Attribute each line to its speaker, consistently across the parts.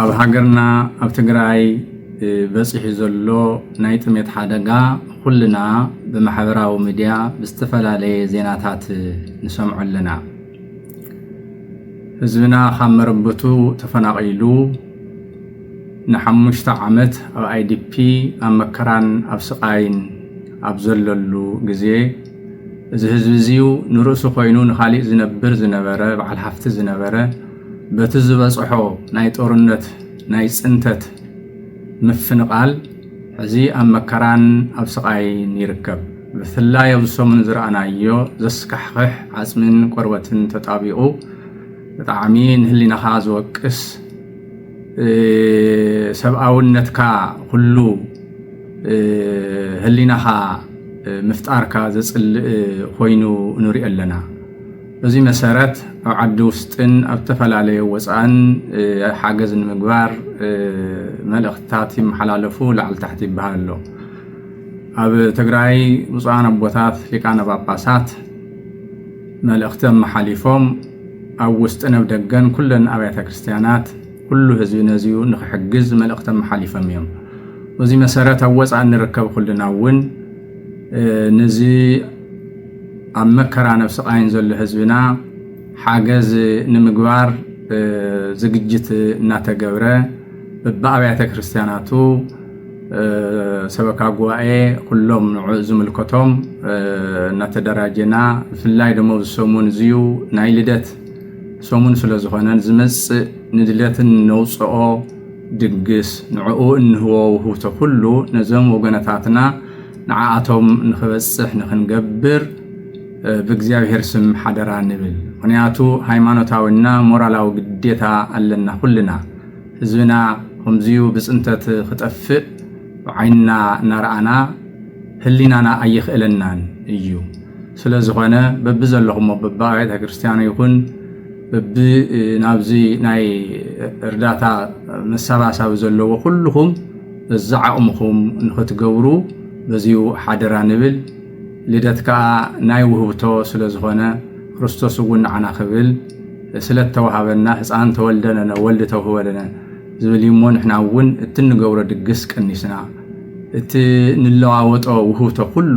Speaker 1: ኣብ ሃገርና ኣብ ትግራይ በፂሑ ዘሎ ናይ ጥሜት ሓደጋ ኩልና ብማሕበራዊ ሚድያ ብዝተፈላለየ ዜናታት ንሰምዖ ኣለና። ህዝብና ካብ መረበቱ ተፈናቒሉ ንሓሙሽተ ዓመት ኣብ ኣይዲፒ ኣብ መከራን ኣብ ስቓይን ኣብ ዘለሉ ግዜ እዚ ህዝቢ እዙይ ንርእሱ ኮይኑ ንኻሊእ ዝነብር ዝነበረ በዓል ሃፍቲ ዝነበረ በቲ ዝበፅሖ ናይ ጦርነት ናይ ፅንተት ምፍንቓል ሕዚ ኣብ መከራን ኣብ ስቓይን ይርከብ። ብፍላይ ኣብዚ ሰሙን ዝረኣናዮ ዘስካሕኽሕ ዓፅሚን ቆርበትን ተጣቢቑ ብጣዕሚ ንህሊናኻ ዝወቅስ ሰብኣውነትካ ኩሉ ህሊናኻ ምፍጣርካ ዘፅልእ ኮይኑ ንሪኦ ኣለና። በዚ መሰረት ኣብ ዓዲ ውስጥን ኣብ ዝተፈላለዩ ወፃእን ሓገዝ ንምግባር መልእኽትታት ይመሓላለፉ ላዕሊ ታሕቲ ይበሃል ኣሎ። ኣብ ትግራይ ብፁዓን ኣቦታት ሊቃነ ጳጳሳት መልእኽቲ ኣመሓሊፎም ኣብ ውስጥን ኣብ ደገን ኩለን ኣብያተ ክርስቲያናት ኩሉ ህዝቢ ነዚዩ ንክሕግዝ መልእኽቲ ኣመሓሊፎም እዮም። በዚ መሰረት ኣብ ወፃእ እንርከብ ኩልና እውን ነዚ ኣብ መከራን ኣብ ስቓይን ዘሎ ህዝብና ሓገዝ ንምግባር ዝግጅት እናተገብረ በብኣብያተ ክርስቲያናቱ ሰበካ ጉባኤ ኩሎም ንዑ ዝምልከቶም እናተደራጀና ብፍላይ ደሞ ኣብዚ ሰሙን እዚዩ ናይ ልደት ሰሙን ስለ ዝኾነ ዝመፅእ ንልደትን ነውፅኦ ድግስ ንዕኡ እንህቦ ውህብቶ ኩሉ ነዞም ወገነታትና ንዓኣቶም ንክበፅሕ ንክንገብር ብእግዚኣብሔር ስም ሓደራ ንብል። ምክንያቱ ሃይማኖታዊና ሞራላዊ ግዴታ ኣለና ኩልና። ህዝብና ከምዙዩ ብፅንተት ክጠፍእ ብዓይንና እናረኣና ህሊናና ኣይኽእለናን እዩ። ስለዝኾነ በቢዘለኹሞ በቢኣብያተ ክርስትያኑ ይኹን እብ ናብዚ ናይ እርዳታ መሳባሳቢ ዘለዎ ኩልኹም እዚ ዓቕምኹም ንኽትገብሩ በዚሁ ሓደራ ንብል። ልደት ከኣ ናይ ውህብቶ ስለ ዝኾነ ክርስቶስ እውን ንዓና ክብል ስለ እተዋሃበና ህጻን ተወልደ ለነ ወልድ ተውህበ ለነ ዝብል እዩ እሞ ንሕና እውን እቲ እንገብሮ ድግስ ቀኒስና እቲ ንለዋወጦ ውህብቶ ኩሉ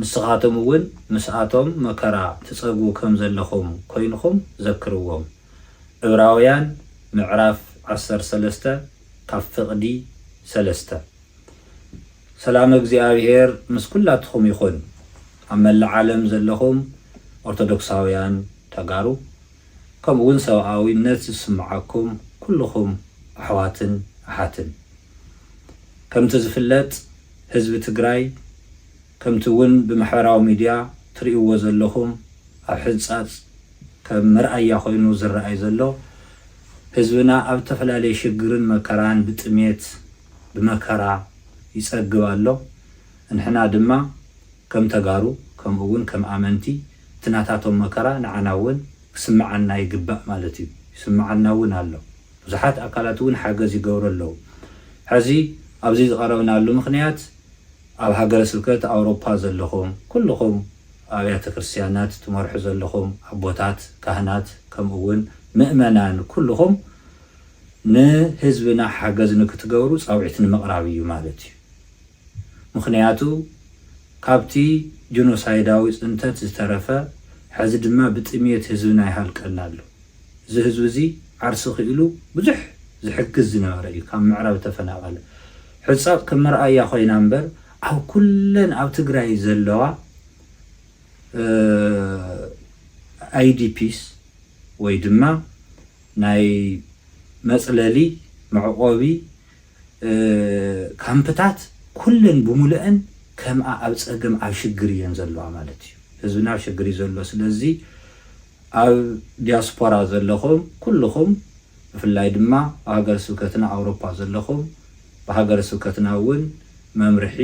Speaker 2: ንስኻቶም እውን ምስኣቶም መከራ ትጸግቡ ከም ዘለኹም ኰይንኩም ዘክርዎም። ዕብራውያን ምዕራፍ ዓሰርተ ሰለስተ ካብ ፍቕዲ ሰለስተ። ሰላመ እግዚኣብሔር ምስ ኩላትኹም ይኹን ኣብ መላእ ዓለም ዘለኹም ኦርቶዶክሳውያን ተጋሩ ከምኡ እውን ሰብኣዊነት ዝስምዓኩም ኩሉኹም ኣሕዋትን ኣሓትን። ከምቲ ዝፍለጥ። ህዝቢ ትግራይ ከምቲ እውን ብማሕበራዊ ሚድያ ትሪኡዎ ዘለኹም ኣብ ሕንፃፅ ከም መርኣያ ኮይኑ ዝረኣይ ዘሎ ህዝብና ኣብ እተፈላለየ ሽግርን መከራን ብጥሜት ብመከራ ይፀግብ ኣሎ እንሕና ድማ ከም ተጋሩ ከምኡ እውን ከም ኣመንቲ እቲ ናታቶም መከራ ንዓና እውን ክስመዓና ይግባእ ማለት እዩ ይስመዓና እውን ኣሎ ብዙሓት ኣካላት እውን ሓገዝ ይገብሩ ኣለዉ። ሕዚ ኣብዚ ዝቐረብናሉ ምኽንያት ኣብ ሃገረ ስብከት ኣውሮፓ ዘለኹም ኩልኹም ኣብያተ ክርስቲያናት ትመርሑ ዘለኹም ኣቦታት ካህናት ከምኡ እውን ምእመናን ኩልኹም ንህዝብና ሓገዝ ንክትገብሩ ጻውዒት ንምቕራብ እዩ ማለት እዩ። ምኽንያቱ ካብቲ ጅኖሳይዳዊ ጽንተት ዝተረፈ ሕዚ ድማ ብጥምየት ህዝብና ይሃልቀና ኣሎ። እዚ ህዝቢ እዚ ዓርሲ ክኢሉ ብዙሕ ዝሕግዝ ዝነበረ እዩ ካብ ምዕራብ ተፈናቀለ ሕጻብ ከም መርኣያ ኮይና እምበር ኣብ ኩለን ኣብ ትግራይ ዘለዋ ኣይዲፒስ ወይ ድማ ናይ መጽለሊ መዕቆቢ ካምፕታት ኩለን ብሙሉኤን ከምኣ ኣብ ፀገም ኣብ ሽግር እየን ዘለዋ ማለት እዩ ህዝብና ኣብ ሸግር እዩ ዘሎ ስለዚ ኣብ ዲያስፖራ ዘለኹም ኩሉኹም ብፍላይ ድማ ኣብ ሃገረ ስብከትና ኣውሮፓ ዘለኹም ብሃገረ ስብከትና እውን መምርሒ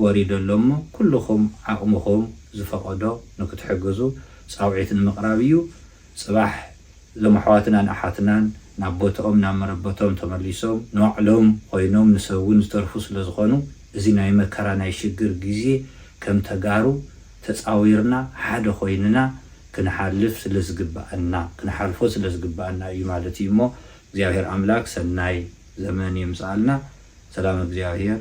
Speaker 2: ወሪዱ ኣሎ እሞ ኩሉኹም ዓቕምኹም ዝፈቐዶ ንክትሕግዙ ፃውዒት ንምቕራብ እዩ ጽባሕ እዞም ኣሕዋትናን ኣሓትናን ናብ ቦትኦም ናብ መረበቶም ተመሊሶም ንባዕሎም ኮይኖም ንሰብ ውን ዝተርፉ ስለ ዝኾኑ እዚ ናይ መከራ ናይ ሽግር ግዜ ከም ተጋሩ ተጻዊርና ሓደ ኮይንና ክንሓልፍ ስለ ዝግበኣና ክንሓልፎ ስለ ዝግበኣና እዩ ማለት እዩ እሞ እግዚኣብሄር ኣምላክ ሰናይ ዘመን የምጽኣልና ሰላም እግዚኣብሄር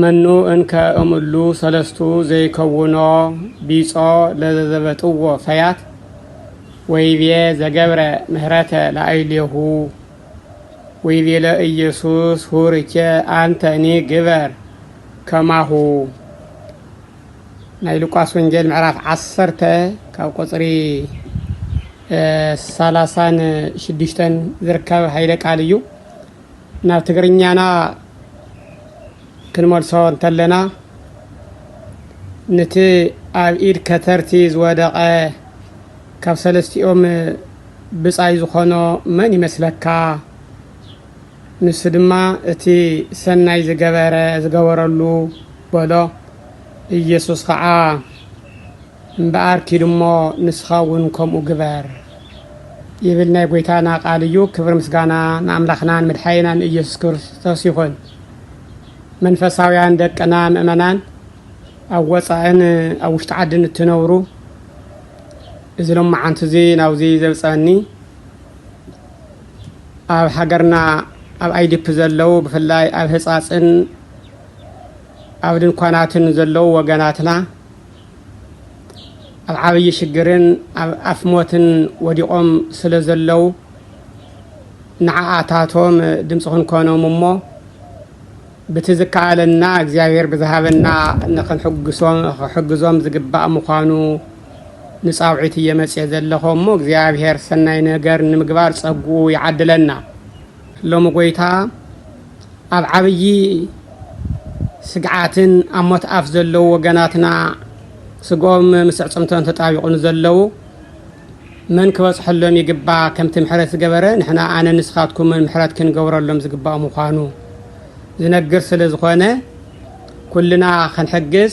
Speaker 3: መኑ እንከ እምሉ ሰለስቱ ዘይከውኖ ቢጾ ለዘዘበጥዎ ፈያት ወይቤ ዘገብረ ምህረተ ለአይሌሁ ወይቤለ ኢየሱስ ሁርኬ አንተኒ ግበር ከማሁ ናይ ሉቃስ ወንጌል ምዕራፍ ዓሰርተ ካብ ቁፅሪ ሰላሳን ሽዱሽተን ዝርከብ ኃይለ ቃል እዩ። ናብ ትግርኛና ክንመልሶ እንተለና ንቲ ኣብ ኢድ ከተርቲ ዝወደቐ ካብ ሰለስቲኦም ብጻይ ዝኾኖ መን ይመስለካ? ንሱ ድማ እቲ ሰናይ ዝገበረ ዝገበረሉ በሎ። ኢየሱስ ኸዓ እምበኣር ኪድ እሞ ንስኻ እውን ከምኡ ግበር ይብል ናይ ጐይታና ቃል እዩ። ክብሪ ምስጋና ንኣምላኽናን መድሓኒናን ኢየሱስ ክርስቶስ ይኹን። መንፈሳውያን ደቅና ምእመናን ኣብ ወጻእን ኣብ ውሽጢ ዓድን እትነብሩ እዚ ሎማዓንቲ እዚ ናብዚ ዘብጸኒ ኣብ ሃገርና ኣብ ኣይዲፒ ዘለው ብፍላይ ኣብ ህጻጽን ኣብ ድንኳናትን ዘለው ወገናትና ኣብ ዓብዪ ሽግርን ኣብ ኣፍ ሞትን ወዲቖም ስለ ዘለዉ ንዓኣታቶም ድምፂ ክንኮኖም እሞ ብቲ ዝከኣለና እግዚኣብሔር ብዝሃበና ንክሕግዞም ዝግባእ ምዃኑ ንፃውዒት እየ መፅየ ዘለኹ እሞ እግዚኣብሔር ሰናይ ነገር ንምግባር ፀግኡ ይዓድለና። ሎሚ ጎይታ ኣብ ዓብዪ ስግዓትን ኣብ ሞት ኣፍ ዘለዉ ወገናትና ስግኦም ምስ ኣዕፅምቶም ተጣቢቑ ንዘለዉ መን ክበፅሐሎም ይግባ ከምቲ ምሕረት ዝገበረ ንሕና ኣነ ንስኻትኩምን ምሕረት ክንገብረሎም ዝግባእ ምዃኑ ዝነግር ስለ ዝኾነ ኩልና ክንሕግዝ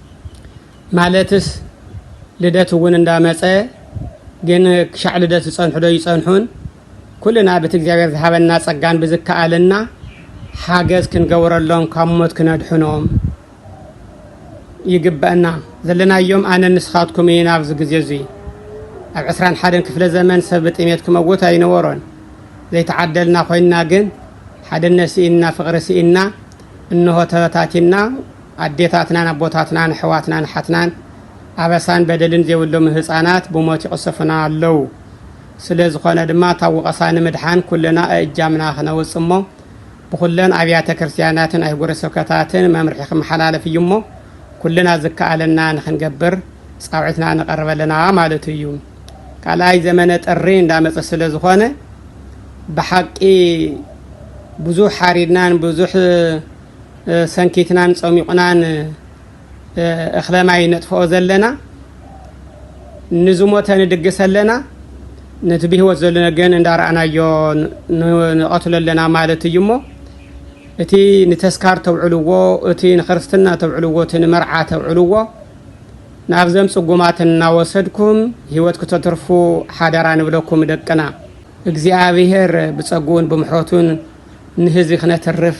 Speaker 3: ማለትስ ልደት እውን እንዳመፀ ግን ክሻዕ ልደት ዝፀንሑ ዶ ይፀንሑን? ኩልና ብቲ እግዚኣብሔር ዝሃበና ፀጋን ብዝከኣለና ሓገዝ ክንገብረሎም ካብ ሞት ክነድሕኖም ይግበእና። ዘለናዮም ኣነን ንስኻትኩም እይን ኣብዚ ግዜ እዙይ። ኣብ ዕስራን ሓደን ክፍለ ዘመን ሰብ ብጥሜት ክመውት ኣይነበሮን። ዘይተዓደልና ኮይንና ግን ሓድነት ስኢንና ፍቕሪ ስኢንና እንሆ ተበታቲንና ኣዴታትናን ኣቦታትናን ኣሕዋትናን ኣሓትናን ኣበሳን በደልን ዜብሎም ህጻናት ብሞት ይቕሰፉና ኣለዉ። ስለ ዝኾነ ድማ ካብ ወቐሳ ንምድሓን ኩልና እእጃምና ክነውጽእ እሞ ብኹለን ኣብያተ ክርስትያናትን ኣህጉረ ስብከታትን መምርሒ ክመሓላለፍ እዩ እሞ ኩልና ዝከኣለና ንክንገብር ጻውዒትና ነቐርብ ኣለና ማለቱ እዩ። ካልኣይ ዘመነ ጥሪ እንዳመጸ ስለ ዝኾነ ብሓቂ ብዙሕ ሓሪድናን ብዙሕ ሰንኪትናን ጸሚቑናን እኽለ ማይ ነጥፍኦ ዘለና ንዝሞተ ንድግስ ኣለና ነቲ ብህይወት ዘሎ ግን እንዳረኣናዮ ንቐትሎ ኣለና ማለት እዩ እሞ እቲ ንተስካር ተውዕልዎ እቲ ንክርስትና ተውዕልዎ እቲ ንመርዓ ተውዕልዎ ናብዘም ጽጉማት እናወሰድኩም ህይወት ክተትርፉ ሓደራ ንብለኩም ደቅና እግዚኣብሄር ብጸጉኡን ብምሕረቱን ንህዝቢ ክነትርፍ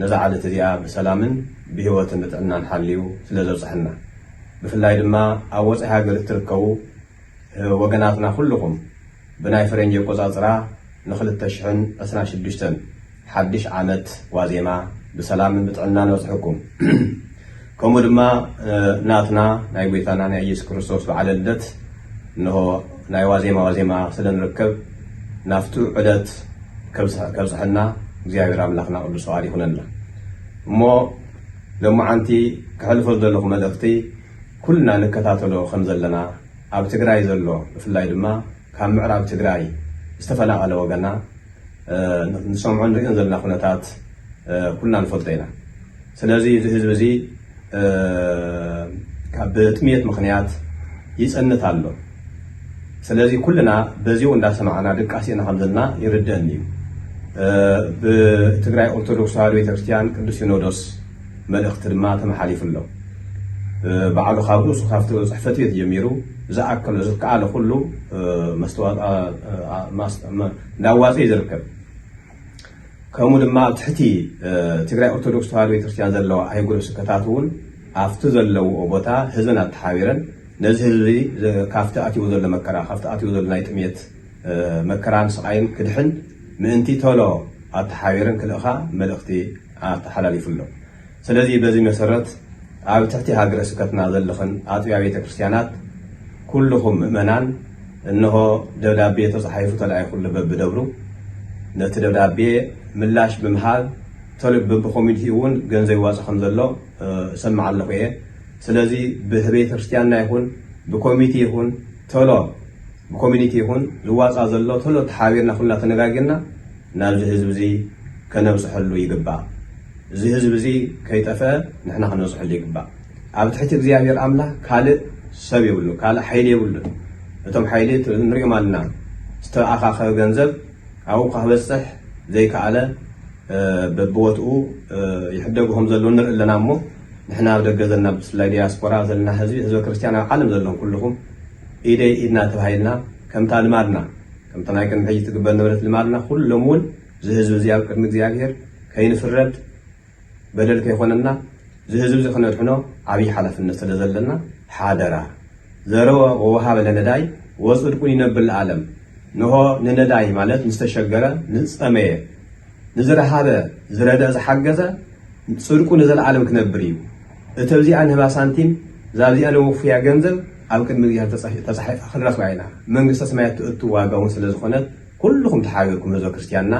Speaker 4: ነዛ ዓለት እዚኣ ብሰላምን ብሂወትን ብጥዕናን ሓልዩ ስለ ዘብጽሐና ብፍላይ ድማ ኣብ ወጻኢ ሃገር እትርከቡ ወገናትና ኩሉኹም ብናይ ፈረንጂ ኣቆጻጽራ ን ክልተ ሽሕን ዕስራን ሽዱሽተን ሓድሽ ዓመት ዋዜማ ብሰላምን ብጥዕናን ኣብጽሕኩም። ከምኡ ድማ ናትና ናይ ጐይታና ናይ ኢየሱስ ክርስቶስ በዓለ ልደት እንሆ ናይ ዋዜማ ዋዜማ ስለ ንርከብ ናብቱ ዕለት ከብጽሐና እግዚኣብሔር ኣምላኽና ቅዱስ ፍቓድ ይኹነልና። እሞ ለሞዓንቲ ከሕልፎ ዝደለኹ መልእኽቲ ኩልና ንከታተሎ ከም ዘለና ኣብ ትግራይ ዘሎ ብፍላይ ድማ ካብ ምዕራብ ትግራይ ዝተፈናቐለ ወገና ንሰምዖ ንርእዮን ዘለና ኩነታት ኩልና ንፈልጦ ኢና። ስለዚ እዚ ህዝቢ እዚ ብጥምየት ምኽንያት ይጸንት ኣሎ። ስለዚ ኩልና በዚኡ እንዳሰማዕና ድቃሲእና ከምዘለና ይርደእኒ እዩ። ብትግራይ ኦርቶዶክስ ተዋህዶ ቤተክርስትያን ቅዱስ ሲኖዶስ መልእኽቲ ድማ ተመሓሊፉ ኣሎ። ባዕሉ ካብ ርእሱ ካብቲ ጽሕፈት ቤት ጀሚሩ ዝኣከሎ ዝከኣለ ኩሉ እንዳዋፀ እዩ ዝርከብ። ከምኡ ድማ ኣብ ትሕቲ ትግራይ ኦርቶዶክስ ተዋህዶ ቤተክርስትያን ዘለዋ ኣህጉረ ስብከታት እውን ኣብቲ ዘለውኦ ቦታ ህዝበን ኣተሓቢረን ነዚ ህዝቢ ካብቲ ኣትይዎ ዘሎ መከራ ካብቲ ኣትይዎ ዘሎ ናይ ጥምየት መከራን ስቓይን ክድሕን ምእንቲ ተሎ ኣተሓቢረን ክልእኻ መልእኽቲ ኣተሓላሊፉ ኣሎ። ስለዚ በዚ መሰረት ኣብ ትሕቲ ሃገረ ስብከትና ዘለኽን ኣጥቢያ ቤተ ክርስቲያናት ኩልኹም ምእመናን እንሆ ደብዳቤ ተጻሒፉ ተላኢኹሉ በብደብሩ ነቲ ደብዳቤ ምላሽ ብምሃብ ተል በብኮሚኒቲ እውን ገንዘብ ይዋጻእ ከም ዘሎ እሰምዕ ኣለኹ እየ ስለዚ ብቤተ ክርስቲያንና ይኹን ብኮሚቲ ይኹን ተሎ ብኮሚኒቲ ይኹን ዝዋጻእ ዘሎ ተሎ ተሓባቢርና ኩልና ተነጋጊርና ናብዚ ህዝቢዚ ከነብጽሐሉ ይግባእ እዚ ህዝቢዚ ከይጠፈ ንሕና ክንበጽሐሉ ይግባእ ኣብ ትሕቲ እግዚኣብሔር ኣምላክ ካልእ ሰብ የብሉን ካልእ ሓይሊ የብሉን እቶም ሓይሊ ንሪኦም ኣልና ዝተኣካከበ ገንዘብ ኣብኡ ክበጽሕ ዘይከኣለ በብቦትኡ ይሕደጉ ከም ዘለዉ ንርኢ ኣለና እሞ ንሕና ኣብ ደገ ዘለና ብፍላይ ዲያስፖራ ዘለና ህዝቢ ህዝበ ክርስትያን ኣብ ዓለም ዘለኹም ኩልኹም ኢደይ ኢድና ተባሂልና ከምታ ልማድና ከምቲ ናይ ቅድሚ ሕጂ ትግበር ነበረት ልማድና ኩሉ ሎሚ እውን እዚ ህዝቢ እዚ ኣብ ቅድሚ እግዚኣብሔር ከይንፍረድ በደል ከይኮነና እዚ ህዝቢ እዚ ክነድሕኖ ዓብይ ሓላፍነት ስለ ዘለና ሓደራ ዘረወ ወወሃበ ለነዳይ ወጽድቁን ይነብር ለዓለም ንሆ ንነዳይ ማለት ንዝተሸገረ ንዝጸመየ ንዝረሃበ ዝረደእ ዝሓገዘ ጽድቁ ንዘለዓለም ክነብር እዩ። እተብዚኣ ንህባ ሳንቲም ዛብዚኣ ነውፍያ ገንዘብ ኣብ ቅድሚ እግዚኣብሔር ተጻሒፋ ክንረክባ ኢና መንግስተ ሰማያት ትእቱ ዋጋ ውን ስለ ዝኮነት ኩሉኩም ተሓቢርኩም ህዝበ ክርስትያንና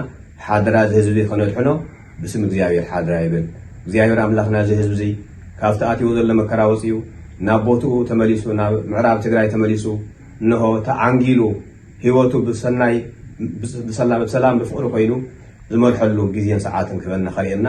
Speaker 4: ሓደራ እዚ ህዝቢ ከነድሕኖ ብስም እግዚኣብሔር ሓደራ ይብል እግዚኣብሔር ኣምላክና እዚ ህዝቢ እዚ ካብቲ ኣትይዎ ዘሎ መከራ ወጽዩ ናብ ቦትኡ ተመሊሱ ናብ ምዕራብ ትግራይ ተመሊሱ እንሆ ተዓንጊሉ ሂወቱ ብሰናይ ብሰላም ብፍቅሪ ኮይኑ ዝመርሐሉ ግዜን ሰዓትን ክህበና ከርእየና